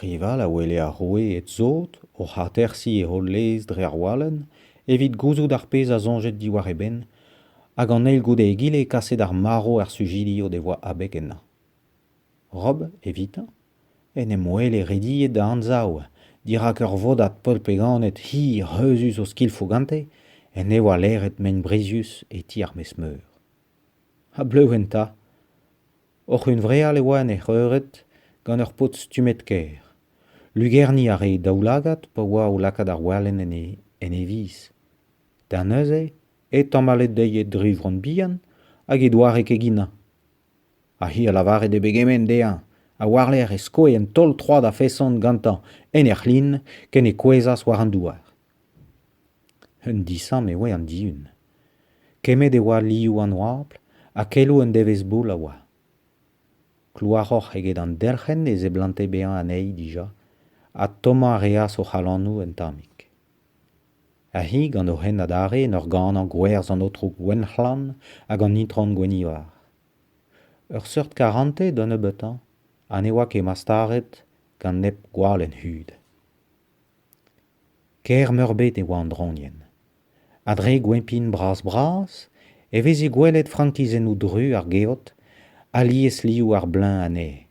Rival a wele ar roueed sot oc'h atersiñ e holl lez dre ar walenn evit gouzout ar pezh a soñjed diwar e benn hag an eil goude egile kaset ar marv er sujidi o devoa abeg ennañ. Rob, evitañ, en em wele rediet da anzav dirak ur vodad polpeganed hir reuzus o skilfoù gante en devoa leret mein brizius e ti ar maez-meur. Ha bleuñv enta. Oc'h hunvreal e oa en hec'h eured gant ur paotr stummet kaer. Lugerniñ a rae daoulagad pa oa o lakaat ar walenn en e viz. Da neuze e tamallet dezhi e dri vronn bihan hag he doare keginañ. Ha hi a lavare d'he pegement dezhañ, ha war-lerc'h e skoe un taol-troad a-feson gantañ en he c'hlin ken e kouezhas war an douar. Un disamm e oa an Dihun. Kemmet e oa liv an oabl ha keloù un devezh-boull a oa. Klouaroc'h eget an delc'hen e seblante bezañ anezhi dija ha tommañ a reas o c'halonoù un tammig. Ha hi gant o hent adarre en ur ganañ gwerzh an aotrou Gwenhlan hag an itron Gwenivar. Ur seurt karante d'un nebeutañ ha ne oa ket mastaret gant nep gwalenn hud. Kaer-meurbet e oa an draoñienn. A-dre goempin bras-bras e veze gwelet frankizennoù dru ar geot alies liv ar bleuñv anezhe.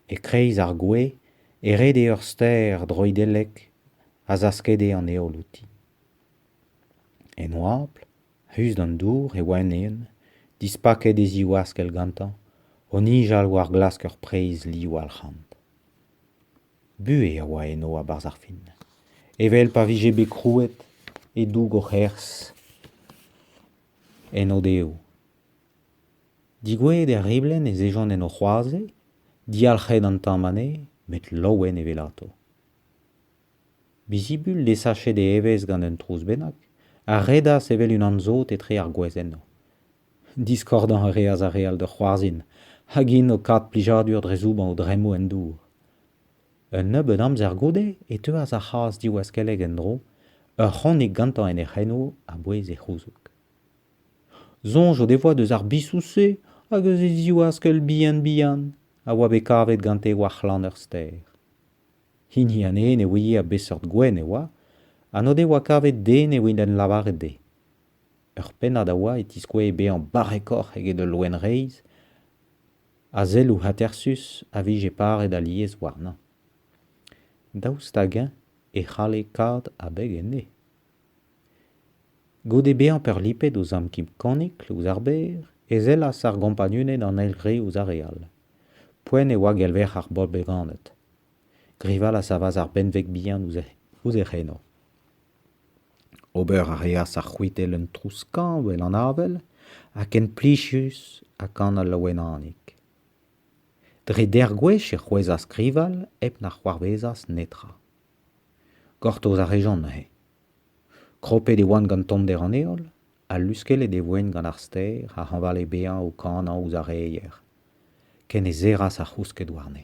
E-kreiz ar gwez e rede ur stêr droidellek a zaskede an heol outi. En oabl, ruz d'an dour, e oa un ene, dispaket e ziwaskell gantañ, o nijal war glask ur preizh liv alc'hant. Buhez a oa eno a-berzh ar fin, evel pa vije bet krouet e-doug o c'herzh en o-devoù. Digoueet er riblenn ez ejont en o c'hoazez, dialc'het an tamm anezhe, met laouen evelato. Bizibul, desachet e evezh gant un trouz bennak, a redas evel unan sot etre ar gwez enno. Diskordañ a reas ar re all da c'hoarzhin hag int o kas plijadur dre zoubañ o dremmoù en dour. Un nebeud amzer goude e teuas ar c'hazh diwaskellek en-dro, ur c'honig gantañ en he c'heno a-bouez e c'houzoug. Soñj o devoa deus ar bisoù-se hag eus e ziwaskell bihan-bihan a oa bet kavet gante war c'hlann ur stêr. Hini anezhe ne ouie a beseurt gwenn e oa ha n'o devoa kavet den evit en lavaret dezhe. Ur pennad a oa e tiskouez bezañ barrekoc'h eget ul loen reizh ha selloù atersus a vije paret alies warnañ. Daoust hag-eñ e c'halle kaout abeg enne? Goude bezañ peurlipet ouzh amkim Konikl ouzh ar ber e sellas ar gompagnuned an eil re ouzh ar re all. Poent e oa gelverc'h ar bobl bevanet. Grival a savas ar benveg bihan ouzh e c'heno. Ober a reas ar c'hwitell un trouz-skañv en an avel ha ken plijus ha kanol Loenanig. Dre dec'h gwech e c'hwezhas skrival hep na c'hoarvezas netra. Gortoz a rejont neuze. Kropet e oant gant tommder an heol ha luskellet e voent gant ar stêr a hañvale bezañ o kanañ ouzh ar reier, ken e serras ar c'housked warne.